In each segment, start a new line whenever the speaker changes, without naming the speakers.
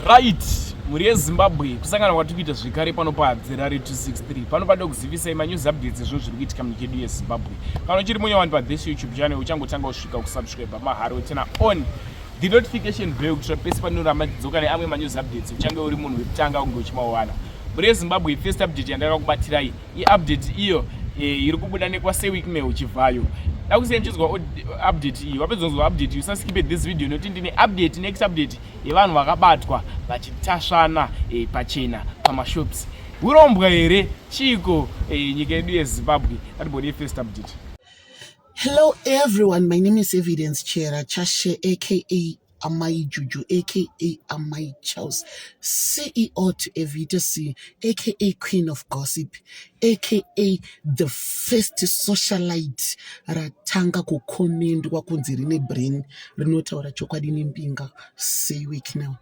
right mhuri yezimbabwe kusangana kwatiri kuita zvekare pano padzerare 263 pano pade kuzivisai manews updates ezvinhu zviri kuitika munyika yedu yezimbabwe kana uchiri munya wani pathis youtube channel uchangotanga kusvika kusubscribe mahari wetsena on the notification bell kuitira pese panoramba ndidzoka neamwe manews updates uchange uri munhu wekutanga kunge uchimawana mhuri yezimbabwe first update yandakakubatiraiyi iupdate iyo eh, iri kubuda nekwaseweekmail chivhayo dakusiyani chinzwa update iyi wapedza kunzwa update iyi usaskipe this video nokuti ndine update next update yevanhu vakabatwa vachitasvana eh, pachena pamashops hurombwa here chiiko eh, nyika yedu yezimbabwe atibonei first update hello
everyone my name is evidence chera chashe aka Amai Juju aka Amai Charles, CEO to Evita C, aka Queen of Gossip, aka the first socialite ratanga kukomendwa kunzi rine brain rinotaura chokwadi nembinga. Say week now.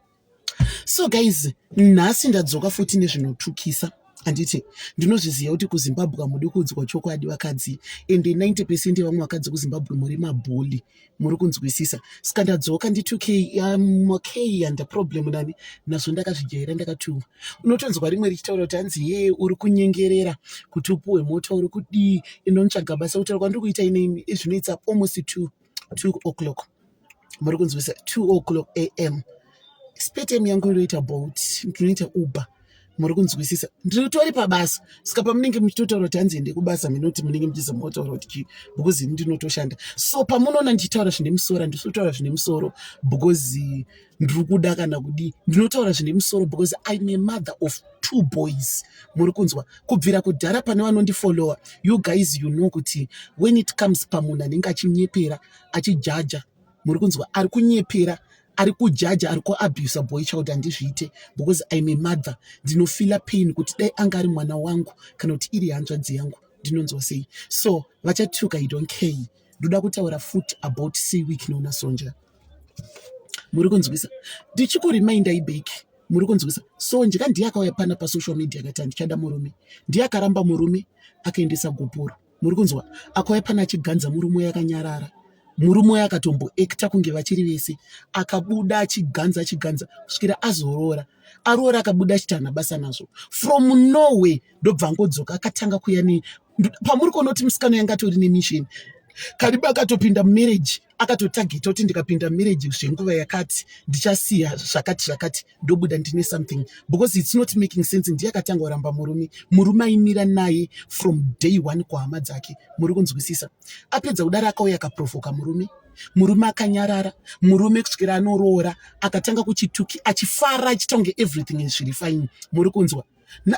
so guys nhasi ndadzoka futi nezvinotukisa handiti ndinozviziva kuti kuzimbabwe hamudi kuudzwa chokwadi vakadzi ende 90 pecent yevamwe vakadzi kuzimbabwe muri mabholi muri kunzwisisa saka ndadzoka nditukei um, okay handa problem nani nazvo ndakazvijaira ndakatuwa unotonzwa rimwe richitaura kuti hanzi yee uri kunyengerera kuti upuwe mota uri kudii inonotsvaga basa kutaura kwandiri kuita ine zvinoitsa almost two 2 o'clock muri kunzwisa 2 o'clock am spetm yangu inoita bolt ndinoita uber muri kunzwisisa ndiritori pabasa saka pamunenge muchitotaura kuti hanzi ende kubasa minoti munenge muchizomotaura kuti chii because ini ndinotoshanda so pamunoona ndichitaura zvine musoro handisotaura zvine musoro because ndiri kuda kana kudii ndinotaura zvine musoro because im a mother of two boys muri kunzwa kubvira kudhara pane vanondifollowa you guys you know kuti when it comes pamunhu anenge achinyepera achijaja muri kunzwa ari kunyepera ari kujaja ari kuabusa boy child handizviite because im a mother ndinofila pain kuti dai anga ari mwana wangu kana kuti iri hanzvadzi yangu ndinonzwa sei so vachatuka i don't care ndoda kutaura futi about seweek nonasonja muri kunzwisa ndichikuriminder ibeki muri kunzwisa so ndika ndiye akauya pana pasocial media akati handichada murume ndiye akaramba murume akaendesa gupuro muri kunzwa akauya pana achiganza murume uye akanyarara murume uye akatomboekta kunge vachiri vese akabuda achiganza achiganza kusvikira azoroora aroora akabuda achiti hana basa nazvo from norway ndobva angodzoka akatanga kuya ne pamuri kuona kuti musikana yanga atori nemisheni kariba akatopinda mumarriage akatotageta kuti ndikapinda marriage zvenguva yakati ndichasiya zvakati zvakati ndobuda ndine something because its not making sense ndiye akatanga kuramba murume murume aimira naye from day one kuhama dzake muri kunzwisisa apedza kudaro akauya akaprovoka murume murume akanyarara murume kusvikira anoroora akatanga kuchituki achifara achitonge everything zviri fine muri kunzwa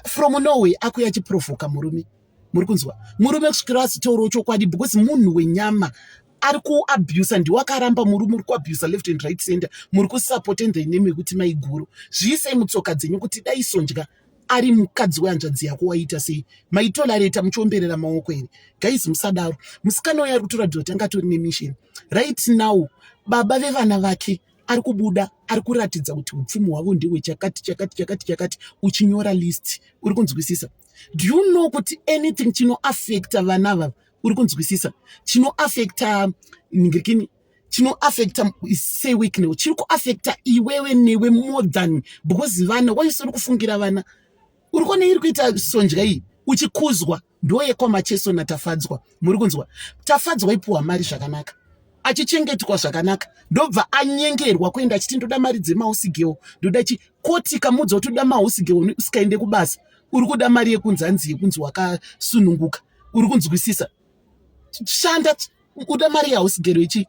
from norway akuya achiprovoka murume muri kunzwa murume kusvikira azitaurawo chokwadi because munhu wenyama ari kuabusa ndiwo akaramba muri muri kuabusa left and right center muri kusapota endai nemi yekuti maiguru zviisei mutsoka dzenyu kuti dai sondya ari mukadzi wehanzvadzi yako waita sei maitolareta muchiomberera maoko here gaizi musadaro musikana uyo ari kutoratidza kuti anga atori nemisheni right now baba vevana vake ari kubuda ari kuratidza kuti upfumi hwavo ndihwe chakati chakati chakati chakati uchinyora list uri kunzwisisa do you know kuti anything chinoafecta vana vava uri kunzwisisa chinoafecta ngirikini chinoafecta say week now chiri kuafecta iwewe newe more than because vana waisiri kufungira vana uri kuona iri kuita sonja iyi uchikuzwa ndoyekwa macheso natafadzwa muri kunzwa tafadzwa ipuwa mari zvakanaka achichengetwa zvakanaka ndobva anyengerwa kuenda achiti ndoda mari dzemausigeo ndoda chi koti kamudza kuti uda mausigeo usikaende kubasa uri kuda mari yekunzi hanzi yekunzi wakasununguka uri kunzwisisa shanda uda mari yausigero ichi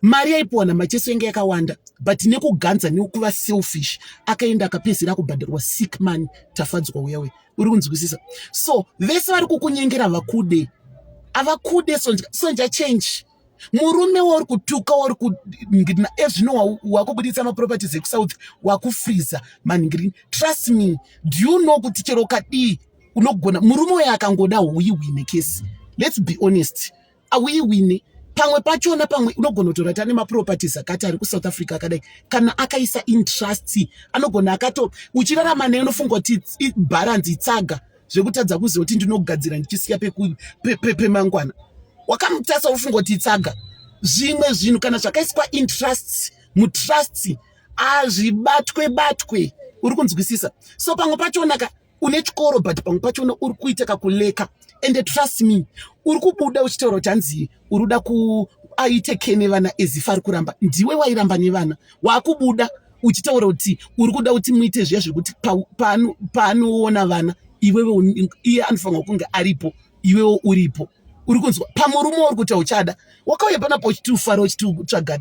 mari yaipiwa namacheso yanga yakawanda but nekuganza nekuva selfish akaenda akapedzera kubhadharwa sick money tafadzwa uya uya uri kunzwisisa so vese vari kukunyengera vakude avakude sonja sonja change murume wauri kutuka wauri kuningirina ezvino wakubuditsa maproperties ekusouth wakufriza maningirina trust me do you know kuti chero kadii unogona murume uyo akangoda huyi huine kesi let's be honest auiwine pamwe pachona pamwe unogona kutora tane maproperties akati ari kusouth africa akadai kana akaisa intrust anogona akato uchirarama naye unofunga kuti bharanzi itsaga zvekutadza kuziva kuti ndinogadzira ndichisiya pemangwana pe, pe, wakamutasa ufunga kuti itsaga zvimwe zvinhu kana zvakaiswa intrust mutrust azvibatwe batwe uri kunzwisisa so pamwe pachonaka une chikoro but pamwe pachona uri kuita kakuleka and trust me uri kubuda uchitaura kuti hanzi uri kuda ku aite ke nevana ezifa ari kuramba ndiwe wairamba nevana waakubuda uchitaura kuti uri kuda kuti muite zviya zvekuti paanoona vana iwewe iye anofanirwa kunge aripo iwewo uripo uri kunzwa pamurume uri kuti hauchada wakauya panapa uchiti ufara uchiti utsvaga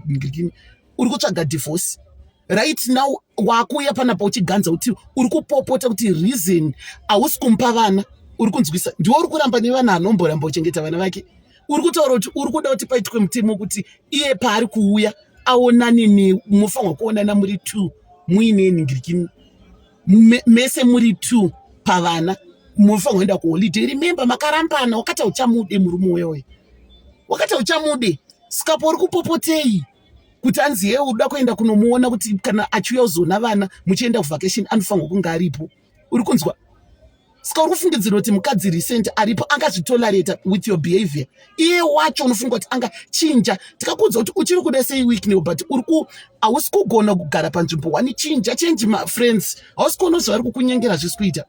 uri kutsvaga divorce right now wakuuya panapa uchiganza kuti uri kupopota kuti reason hausi kumupa vana uri kunzwisa ndiwo uri kuramba nevana anomboramba kuchengeta vana vake uri kutaura kuti uri kuda kuti paitwe mutemo kuti iye paari kuuya aonane nemufanirwa kuonana muri two muine ningirikini mese muri two pavana munofanira kuenda kuholiday remember makarambana wakata uchamude murume uyoyo wakata uchamude skapo uri kupopotei kuti anzi yee uda kuenda kunomuona kuti kana achiuya uzoona vana muchienda kuvacation anofanirwa kunge aripo uri kunzwa ska uri kufungidzira kuti mukadzi recent aripo angazvitolerata with your behavior iye wacho unofunga kuti anga chinja tikakuudza kuti uchiri kuda sei weekneo but uri ku hausi kugona kugara panzvimbo wani chinja change mafriends hausi kuona zvavari kukunyengera zvisi kuita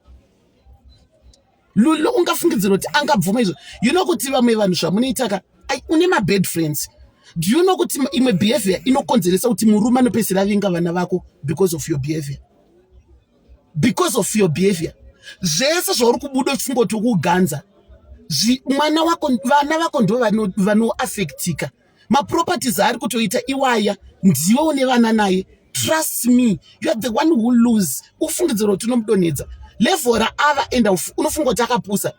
lulu ungafungidzira kuti angabvuma izvo you know kuti vamwe vanhu zvamunoitaka une mabad friends do you know kuti imwe behavior inokonzeresa kuti murume anopesera vinga vana vako because of your behavior because of your behavior zvese zvauri kubuda uchingoti ukuganza mwana wako vana vako ndo vanoafektika maproperties aari kutoita iwaya ndiwe une vana naye trust me you are the one who lose ufungidziro kuti unomudonhedza levhora ava enda unofunga kuti akapusa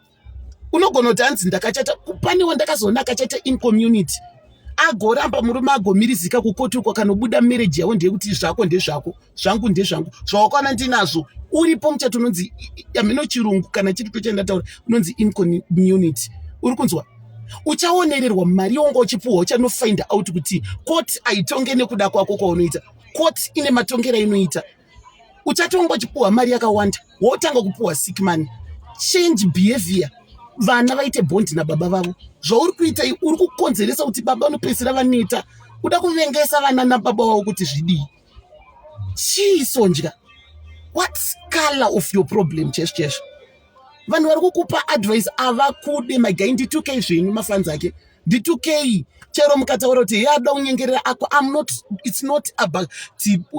unogona kuti hanzi ndakachata pane wandakazoona akachata incommunity agoramba murume agomirizika kukoti uko kanobuda mereji yavo ndeyekuti zvako ndezvako zvangu ndezvangu zvawakaona ndinazvo uripo muchato unonzi amino chirungu kana chiri to chandataura unonzi incommunity uri kunzwa uchaonererwa mari yonga uchipuhwa uchanofind out kuti koti aitonge nekuda kwako kwaunoita koti ine matongero ainoita uchatonga uchipuhwa mari yakawanda wotanga kupuhwa sick money change behavior vana vaite bondi nababa vavo zvauri kuita uri kukonzeresa kuti baba unopedzisira vaneta kuda kuvengesa vana nababa vavo kuti zvidii chii sonja what color of your problem cheshe cheshe vanhu vari kukupa advice avakude magai nditukei zvenyu mafanzi ake nditukei chero mukataura kuti he ada unyengerera ako am not its not about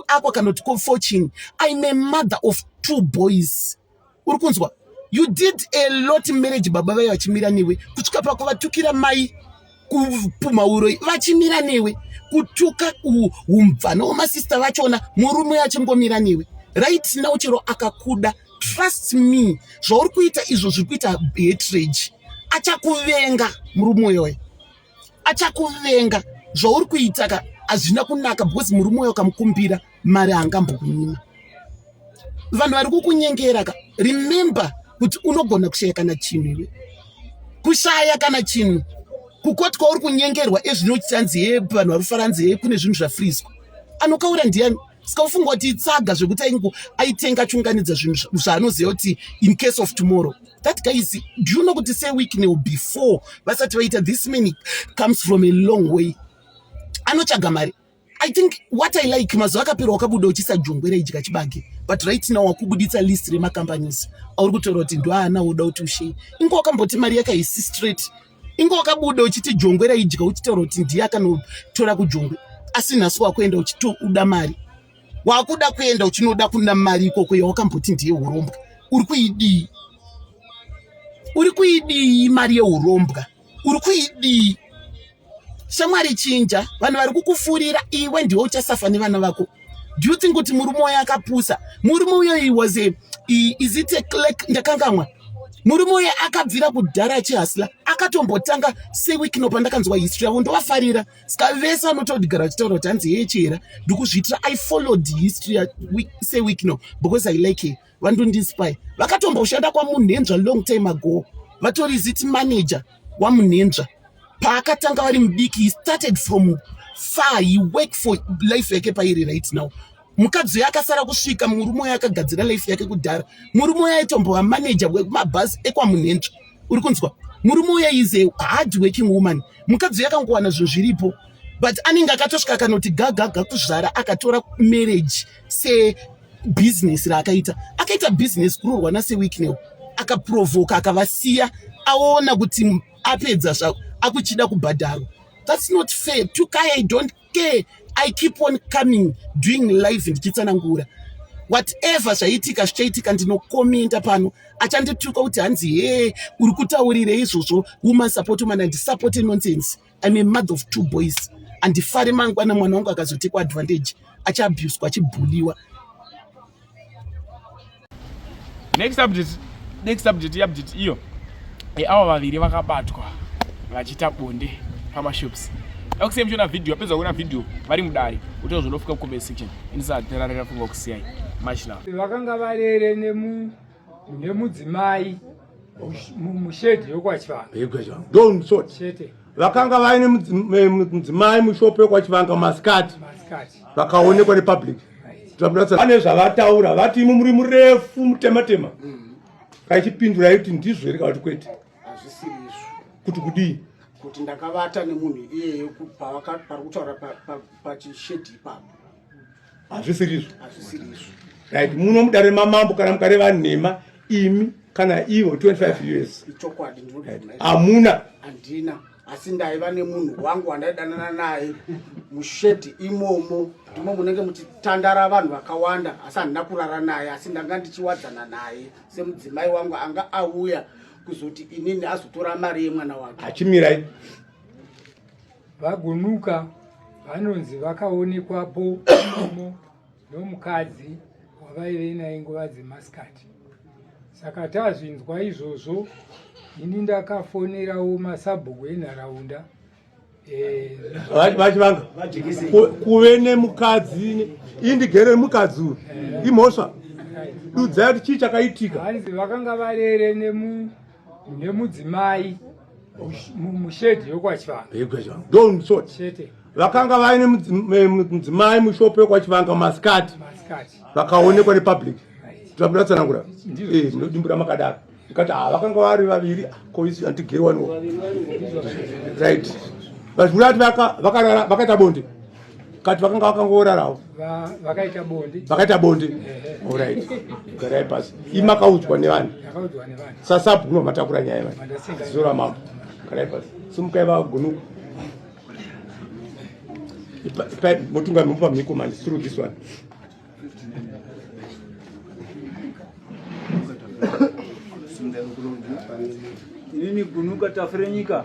ako kana kuti kofochini im a mother of two boys uri kunzwa you did a lot marriage baba vaye vachimira newe kusvika pakuvatukira mai kupumha uroyi vachimira newe kutuka umvana wemasista vachona murume achingomira newe right now chero akakuda trust me zvauri kuita izvo zviri kuita hatrage achakuvenga murume uyoyo achakuvenga zvauri kuitaka hazvina kunaka because murume uyo ukamukumbira mari haangambokunyima vanhu vari kukunyengera ka remember kuti unogona kushaya kana chinhu iwe kushaya kana chinhu kukoti kwauri kunyengerwa ezvinochanzi ye vanhu vari kufaranzi ye kune zvinhu zvafrizwa anokaura ndiyani ska ufunga kuti itsaga zvekuti aingu aitenga achiunganidza zvinhu zvaanoziva kuti in case of tomorrow that guy is do you know kuti seweeknel before vasati vaita this many comes from a long way anotsvaga mari I think what I like mazuva akapera wakabuda uchisa jongwera idya chibage but right now wakubuditsa list remacompanies auri kutora kuti ndoaana woda kuti ushei inge wakamboti mari yake haisi straight inge wakabuda uchiti jongwera idya uchitaura kuti ndiye akanotora kujongwe asi nhasi wakuenda uchitouda mari wakuda kuenda uchinoda kuna mari ikoko yawakamboti ndiye urombwa uri kuidii uri kuidii mari yeurombwa uri kuidii shamwari chinja vanhu vari kukufurira iwe ndiwe uchasafa nevana vako do you think kuti murume wayo akapusa murume uyo he was a is it a clerk ndakangamwa murume uyo akabvira kudhara achihasla akatombotanga seweek no pandakanzwa history yavo ndovafarira ska vese vanotodigara vachitaura kuti hanzi yeye chihera ndikuzviitira i followed history seweek no because i like her vandondispy vakatomboshanda kwamunhenzva long time ago vatori ziti manager wamunhenzva paakatanga vari mudiki he started from far he work for life yake pairi right now mukadzi uyo akasara kusvika murume uyo akagadzira life yake kudhara murume uyo aitombova manager wekumabhasi ekwamunhenzva uri kunzwa murume uyo is a hard working woman mukadzi uyo akangowana zvinhu zviripo but anenge akatosvika akanoti gagaga kuzvara akatora marriage sebhizinesi raakaita akaita bhizinesi kuroorwa nasewicknel akaprovoka akavasiya aona kuti apedza zvako akuchida kubhadharwa thats not fair tukai i don't care i keep on coming doing life ndichitsanangura whatever zvaiitika zvichaitika ndinokomenta pano achandituka kuti hanzi hee uri kutaurire izvozvo woman support woman andisapote nonsense I'm a mother of two boys handifari mangwana mwana wangu akazotekwa advantage achiabuswa achibhuliwa
next update next update iupdate iyo e, avo vaviri vakabatwa vachiita bonde pamashops akusiyai muchiona video apedza kuona video vari mudare uto zvinofika kucomment section inisaterarira funga kusiyai much love vakanga varere
nemu mune mudzimai mushedhi yokwachivanga don sort
chete vakanga vaine mudzimai mushopo yokwachivanga masikati vakaonekwa nepublic vane zvavataura vati imi muri murefu mutematema kaichipindura yekuti ndizvo here kavati kwete kuti kudii kuti ndakavata
nemunhu iyeyo pari kutaura pachishedhi ipapo hazvisiri
izvo right muno mudare mamambo kana mukare vanhema imi kana ivo 25 years ichokwadi
hamuna
handina
asi ndaiva nemunhu wangu wandaidanana naye mushedhi imomo ndimo munenge muchitandara vanhu vakawanda asi handina kurara naye asi ndanga ndichiwadzana naye semudzimai wangu anga auya kuzoti inini azotora mari yemwana wake achimirai
VaGunuka vanonzi vakaonekwapo imomo nomukadzi wavaive naye nguva dzemasikati saka tazvinzwa izvozvo ini ndakafonerawo masabhuku enharaunda eh,
vachivanga kuve nemukadzi indigere mukadzi uyu eh. imhosva dudzai kuti chii chakaitika hanzi vakanga
varere nemu mune mudzimai mushedhi yokwachivanga don sort
chete vakanga vaine mudzimai mushopo yokwachivanga masikati vakaonekwa nepublic tinoda tsanangura eh, ndinodimbura makadaro ndikati ha ah, vakanga vari vaviri koisi andigerwaniwo right vachikuda kuti vakaita bonde kati vakanga vakangoorarawo vakaita bonde vakaita bonde orit garai pasi imakaudzwa nevanhu sasabu no matakura nyaya va zora mambo garai pasi simukai vagunuka motunga mupa mhiko mani through this one
inini gunuka tafirenyika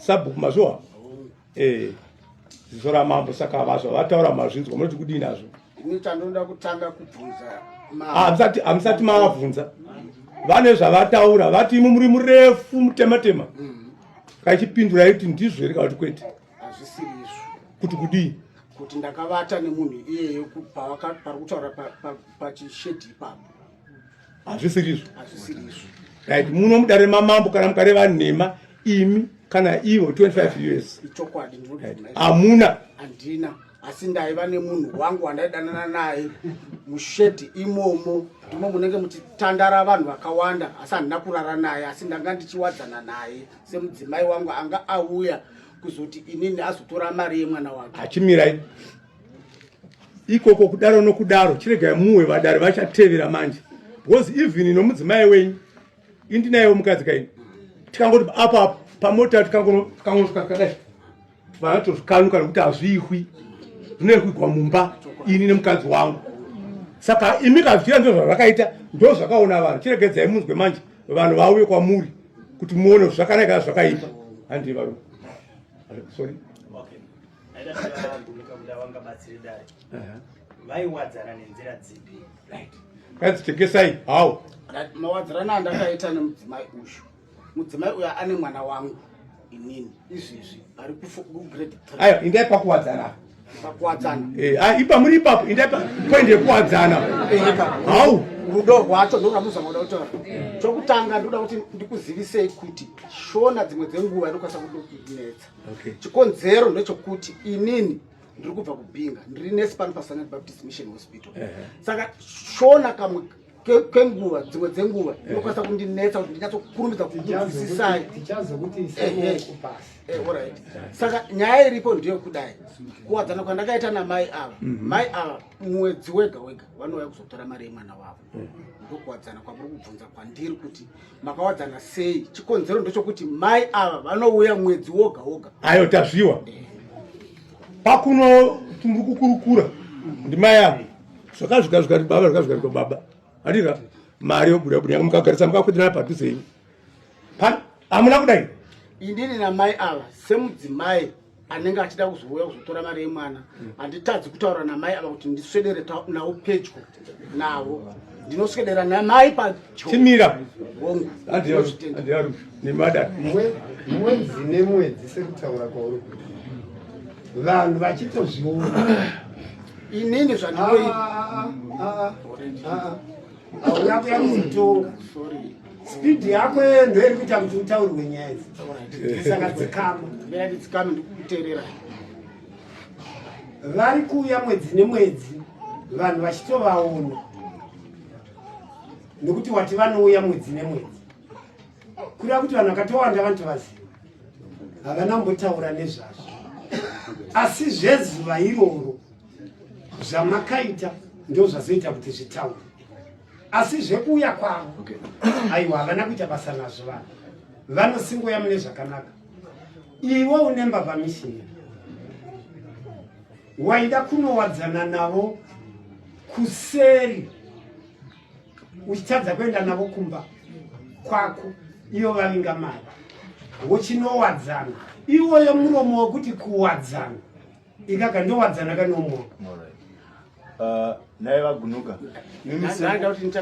sabhuku mazviwa eh ziso ramambo saka vazva vataura mazvinzwa munoti kudii nazvo ini chandinoda
kutanga kubvunza hamusati ah, hamusati
mavabvunza vane zvavataura vati imi muri murefu mutematema mm. kachipindura iti ndizvo here kana kuti kwete hazvisiri izvo
kuti kudii
kuti ndakavata
nemunhu iyeyo pari kutaura pachishedhi ipapo hazvisirizvo
right muno mudare mamambo kana mukareva nhema imi kana ivo 25 years
hamuna
handina
asi ndaiva nemunhu wangu wandaidanana naye mushedhi imomo ndimo munenge muchitandara vanhu vakawanda asi handina kurara naye asi ndanga ndichiwadzana naye semudzimai wangu anga auya kuzoti inini azotora mari yemwana wake achimirai
ikoko kudaro nokudaro chiregai muwe vadare vachatevera manje because even nomudzimai wenyu indinayewo mukadzi kaini tikangoti apa pamota tikangonosvika kadai vanatozvikanuka nekuti hazviihwi zvinoihwigwa mumba ini nemukadzi wangu saka imi kazvira ndo zvazvakaita ndo zvakaona vanhu chiregedzai munzwe manje vanhu vauye kwamuri kuti muone zvakanaka zvakaipa handii varume sorry
vaiwadzana nenzira dzipi kanzi
tengesai how mawadzirana
andakaita nemudzimai uyu mudzimai uyo ane mwana wangu inini izvezvi ari
kugrade
ayo indai
pakuwadzana
pakuwadzana eh, ah, ipa muri ipapo indai
poindi yekuwadzana eh, how rudo rwacho
ndorwamuzamoda kutora chokutanga ndoda kuti ndikuzivisei kuti shona dzimwe dzenguva inokwanisa kudokunetsa okay. chikonzero ndechokuti inini ndiri kubva kubhinga ndiri nesi pano pasanat baptist mission hospital uh -huh. saka shona kamwe kwenguva dzimwe dzenguva eh. inokwanisa kundinetsa kuti ndinyatsokurumidza kukuvisisai eh, eh. saka nyaya iripo ndiyo kudai kuwadzana kwandakaita namai ava mhm. mai ava mwedzi wega wega vanouya kuzotora mari yemwana wavo ndokuwadzana kwamuri kubvunza kwandiri kuti makawadzana sei chikonzero ndechokuti mai ava vanouya mwedzi woga woga ayo tazviwa
pakuno muri kukurukura ndimai avo zvakazvika zvikati baba zvakazvika zvika baba andika mari yobuda buda yanga mukagarisa mukakwitirana padhuze ini amuna kudai indini namai
ava semudzimai anenge achida kuzouya kuzotora mari yemwana handitadzi kutaura namai ava kuti ndiswedere navo pedyo navo ndinoswedera namai patimira
hongu mwedzi
nemwedzi sekutaura kwauri kuti vanhu vachitozviona
inini zvandinoita ah, ah, ah,
hauna kuya kuzotonga spidi yako iyo ndo iri kuita kuti utaurwe nyaya idzi saka dzikama dzikama ndikukuteerera vari kuuya mwedzi nemwedzi vanhu vachitovaona nekuti wati vanouya mwedzi nemwedzi kureva kuti vanhu vakatowanda vanotovaziva havana kumbotaura nezvazvo asi zvezuva iroro zvamakaita ndozvazoita kuti zvitaure asi zvekuuya kwavo okay. aiwa havana kuita basa nazvo vanhu vanosingoya mune zvakanaka iwe une mbavha mishina waida kunowadzana navo kuseri uchitadza kuenda navo kumba kwako iyo vavinga mari wochinowadzana iwoyo muromo wekuti kuwadzana ikaka ndowadzana kanomo uh,
naye vagunuka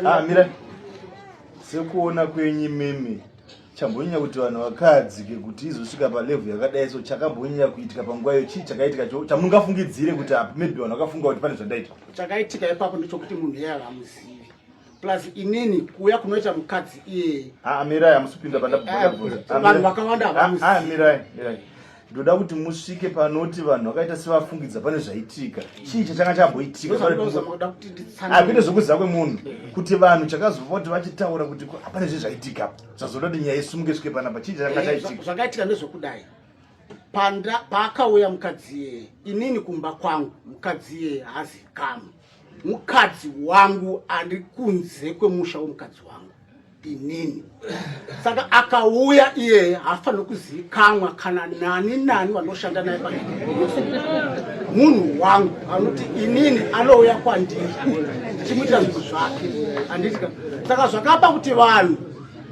ah, mira sekuona kwenyu mimi chambonyanya kuti vanhu vakadzike kuti izosvika palevhu yakadai so chakambonyanya kuitika panguva iyo chii chakaitika cho chamungafungidzire kuti apa maybe vanhu vakafunga kuti pane zvandaita chakaitika ipapo
ndechokuti munhu iye havamuzivi plus inini kuuya kunoita mukadzi iyeye ah, mirai hamusipinda
pandabvanhu
eh, vakawanda havamirai ah, ah,
ndoda kuti musvike panoti vanhu vakaita sevafungidza pane zvaitika chii chachanga chamboitikakuite zvokuziva kwemunhu kuti vanhu chakazova kuti vachitaura kuti hapane zve zvaitika zvazoda kuti nyaya isumuke svike panapa chii chachanga eh, chaitika zvakaitika ndezvokudai
paakauya mukadzi iyeye inini kumba kwangu mukadzi iyeye haazikamwe mukadzi wangu ari kunze kwemusha wemukadzi wangu inini saka akauya iyeye haafaniri kuzivikanwa kana nani nani vanoshanda naye pai munhu wangu anoti inini anouya kwandiri ndichimuitira zvinhu zvake anditika saka zvakapa kuti vanhu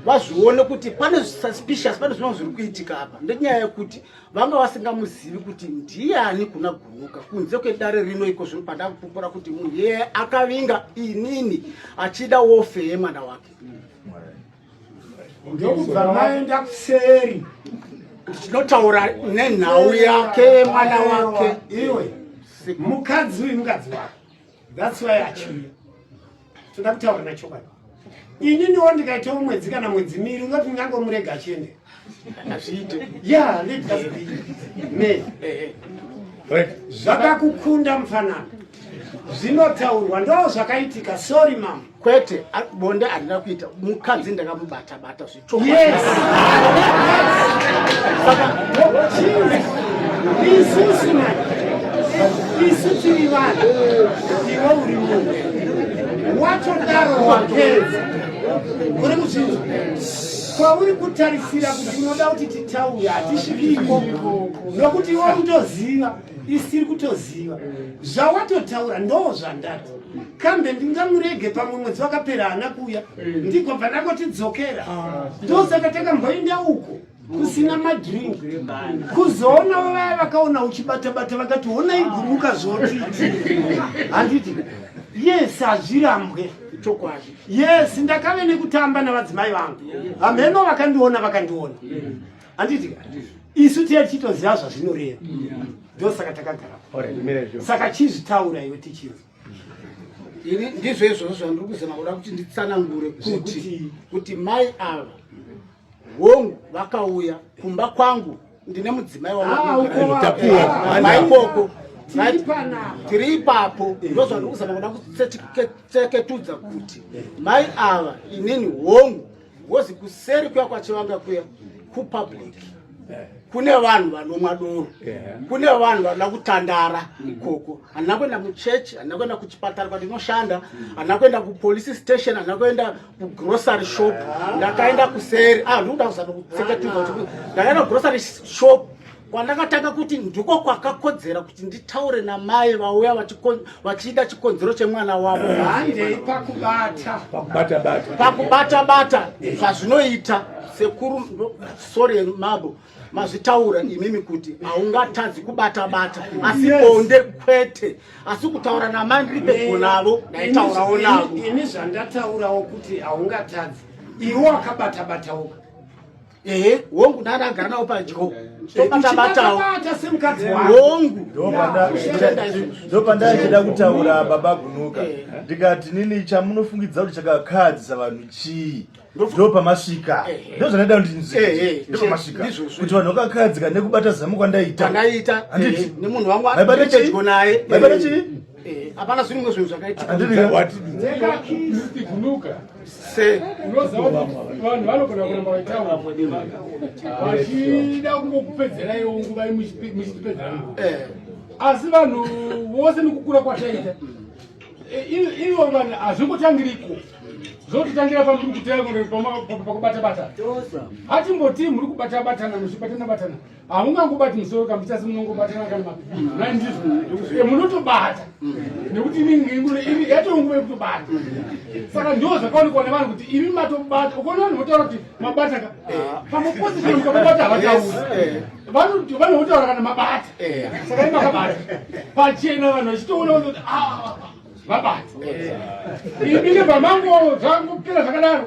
vazvione kuti pane suspicious pane zvinhu zviri kuitika apa ndenyaya yekuti vanga vasingamuzivi kuti ndiani kuna gunuka kunze kwedare rino iko zvino pandakupupura kuti munhu yeye akavinga inini achida wofe yemwana wake
ndokubva maenda kuseri
tinotaura nenhau yake mwana wake iwe
mukadzi uyu mukadzi wake That's why achiuya toda kutaura nachokwadi ini niwo ndikaita umwedzi kana mwedzi miri ungati ndingangomurega achiende hazviite
ya
me zvakakukunda mufanana zvinotaurwa ndo zvakaitika sorry mama kwete bonde
handina kuita mukadzi ndakamubata bata
zvichokwadiisusu isu tiri vanhu iwe uri munhu watodaro wapedza uri muchinzi kwauri kutarisira kuti unoda kuti titaure hatisviki ikoko nokuti iwe unotoziva isiri kutoziva zvawatotaura ndoo zvandati kambe ndingamurege pamwe mwedzi wakapera haana kuya ndigobva ndakotidzokera ndosaka takamboinda uko kusina madrink kuzoonawo vaya vakaona uchibatabata vakati honai gumuka zvotiiti handiti yes hazvirambwe chokwadi
yes ndakave
nekutamba navadzimai vangu hamheno vakandiona vakandiona handiti isu tiye tichitoziva zvazvinoreva ndosaka takagara saka chizvitaura iwe tichinzi
ini ndizvo izvozvo zvandiri kuzama kuda kuti nditsanangure kuti kuti mai ava hongu vakauya kumba kwangu ndine mudzimai wamaikoko ah, tiri ipapo eh. ndo zvandiri kuzama kuda kuteketudza kuti mai ava inini hongu ngozi kuseri kuya kwachivanga kuya kupublic kune vanhu vanomwa doro kune vanhu vanoda kutandara ikoko handina kuenda muchechi handina kuenda kuchipatara kwandinoshanda handina kuenda kupolice station handina kuenda kugrocery shop ndakaenda kuseri ah ndikuda kuzama kutseketudza ndakaenda kugrocery shop kwandakatanga kuti ndiko kwakakodzera kuti nditaure namai vauya vachida chikonzero chemwana wavo handei
pakubata
pakubata bata zvazvinoita sekuru sore mabo mazvitaura imimi kuti haungatadzi kubata bata asi bonde kwete asi kutaura namai ndiri pedyo navo ndaitaurawo navo ini zvandataurawo
kuti haungatadzi iwe wakabata batauka ehe
hongu nani agara nawo padyo tobatabatawo hongu
ndopandaichida kutaura baba gunuka eh. ndikati nini chamunofungidza kuti chakakahadzisa vanhu chii ndo pamasvika eh, eh. ndo zvandada kuti ndinzwepamasvika eh, kuti vanhu vakakadzika nekubata zamu kwandaita anditi nemunhu
wangu aibata chii
Eh, hapana zviri mwe
zvinhu zvakaitikaatiunuka se
unoziva kuti vanhu vanogona kuramba vaitavachida kungokupedzereiwo nguva muchitipedzera eh. asi vanhu vose nekukura kwataita eh, ivo vanhu hazvingotangiriko zvotitangira pamuri kutaya pakubata bata hatimboti muri kubata batana muchibatana batana hamungangobati musoro kamuti asi munongobatana kana mapipi munotobata nekuti inenge yatoo nguva yekutobata saka ndo zvakaonekwa nevanhu kuti imi matobata ukaona vanhu votaura kuti mabata ka pamaposition mukamabata havatauri vanhu votaura kana mabata saka i makabata pachena vanhu vachitoona kuti vabata imi nebvamango zvangopera zvakadaro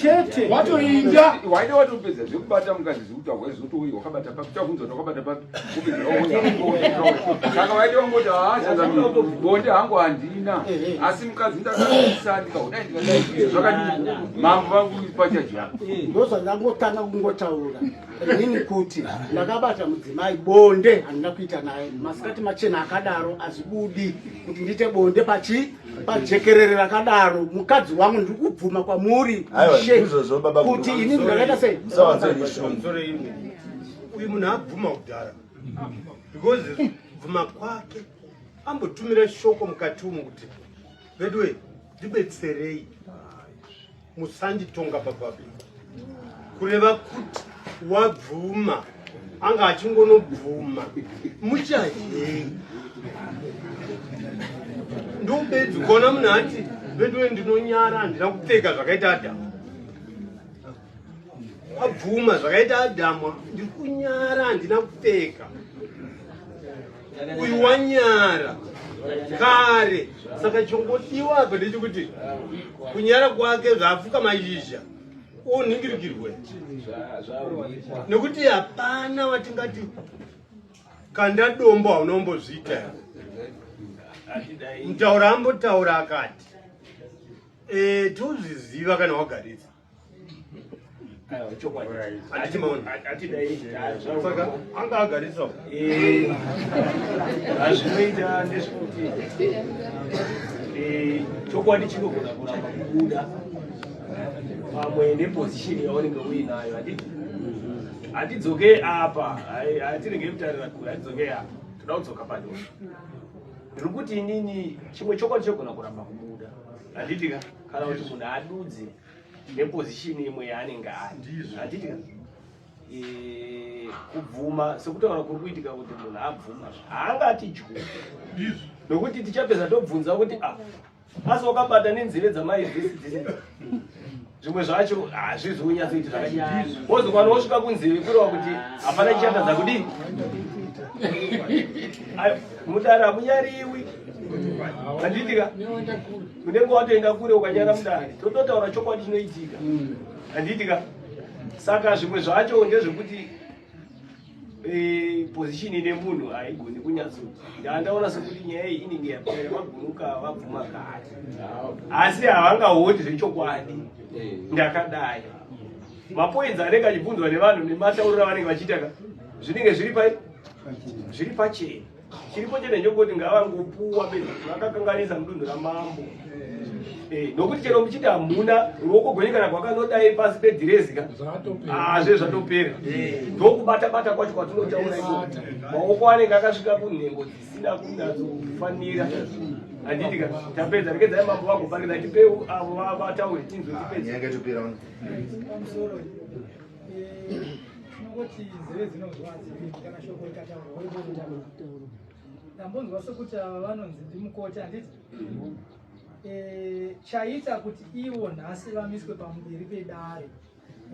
chete watoinda
waida watopedza
zvekubata mukadzi zvekuti ahwai zvotoui wakabata papi tavunza kuti wakabata papi saka waida wangoti haachazabonde hangu handina asi mukadzi ndakaisa ndikaudai ndikadai zvakadii mambo vangu pachaja ndozvandangotanga
kungotaura inini kuti ndakabata mudzimai bonde handina kuita naye masikati machena akadaro azvibudi kuti ndiite bonde pachi pajekerere rakadaro mukadzi wangu ndiri kubvuma kwamuri kuti ini ndakaita sei
uyu munhu abvuma kudhara because bvuma kwake ambotumira shoko mukati umu kuti veduwe ndibetserei musanditonga bababe kureva kuti wabvuma anga achingonobvuma muchadii ndobedzi ukaona munhu ati veduwe ndinonyara handina kupfeka zvakaita adhamu abvuma zvakaita adhamu ndiri kunyara handina kupfeka uyu wanyara kare saka chongodiwa apa ndechekuti kunyara kwake zvaapfuka mazhizha unhingirikirwe nekuti hapana watingati kanda dombo haunombozviita mutaura ambotaura akati e, tozviziva kana wagaritsa anga agarisa
hazvinoita eh, ndezvekuti eh, chokwadi chinogona kuramba kubuda pamwe nepozishini yaunenge uinayo handiti hatidzoke apa hatirege kutarira kure hatidzoke apa toda kudzoka padosha ndiri kuti inini chimwe chokwadi chogona kuramba kubuda handitika kana kuti munhu adudze neposition imwe yaanenge ariadidika kubvuma sekutaura kuri kuitika kuti munhu abvuma haangati dyu nokuti tichapedza tobvunza kuti a ah, asi wakabata nenzeve dzamai dzisi zvimwe zvacho hazvizi kunyatsoiti zvakaiozokwana wosvika kunzeve kureva kuti hapana chichatadza kudii mudara hamunyariwi anditika unenge watoenda kure ukanyara mudare tototaura chokwadi chinoitika mm. handiitika saka zvimwe zvacho ndezvekuti eh, position ine munhu haigoni kunyatso ndandaona sekuti nyaya iyi inenge yapera vagunuka vabvuma kati asi havangaoni zvechokwadi eh. ndakadai mapoinzi anenge achibvunzwa nevanhu nematauriro avanenge vachiita ka zvinenge zviri pai zviri pachena chiripo chete ndechokuti ngavangopuwa be vakakanganisa mudunhu ramambo eh, nokuti chero muchiti hamuna ruoko gwenyu kana kwakanodai pasi pedhirezika azve ah, zvatopera eh. ndokubata bata kwacho kwatinotaura iko maoko anenge akasvika kunhengo dzisina kunatsofanira handiti ka tapedza rekedzai mambo vagopangiza tipeu avo vataure tinzwe tipedza
tinongoti nzeve dzinonzwa hadzipindi kana shoko ikataurwa woiboitaura ndambonzwa sokuti ava vanonzi ndimukoti handiti Eh, chaita kuti ivo nhasi vamiswe pamberi pedare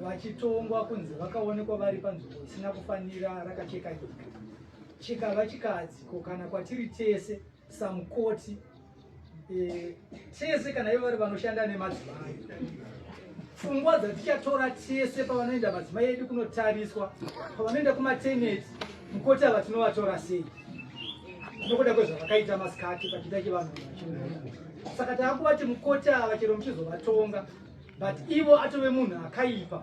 vachitongwa kunzi vakaonekwa vari panzvimbo isina kufanira rakacheka nyika chikava chikadziko kana kwatiri tese samukoti eh, tese kana ivo vari vanoshanda nemadzimai pfungwa dzatichatora tese pavanoenda madzimai edu kunotariswa pavanoenda kumateneti mukoti ava tinovatora sei nokuda kwezvavakaita masikati pachiita chivanhu saka taakuvati mukoti ava chero muchizovatonga but ivo atove munhu akaipa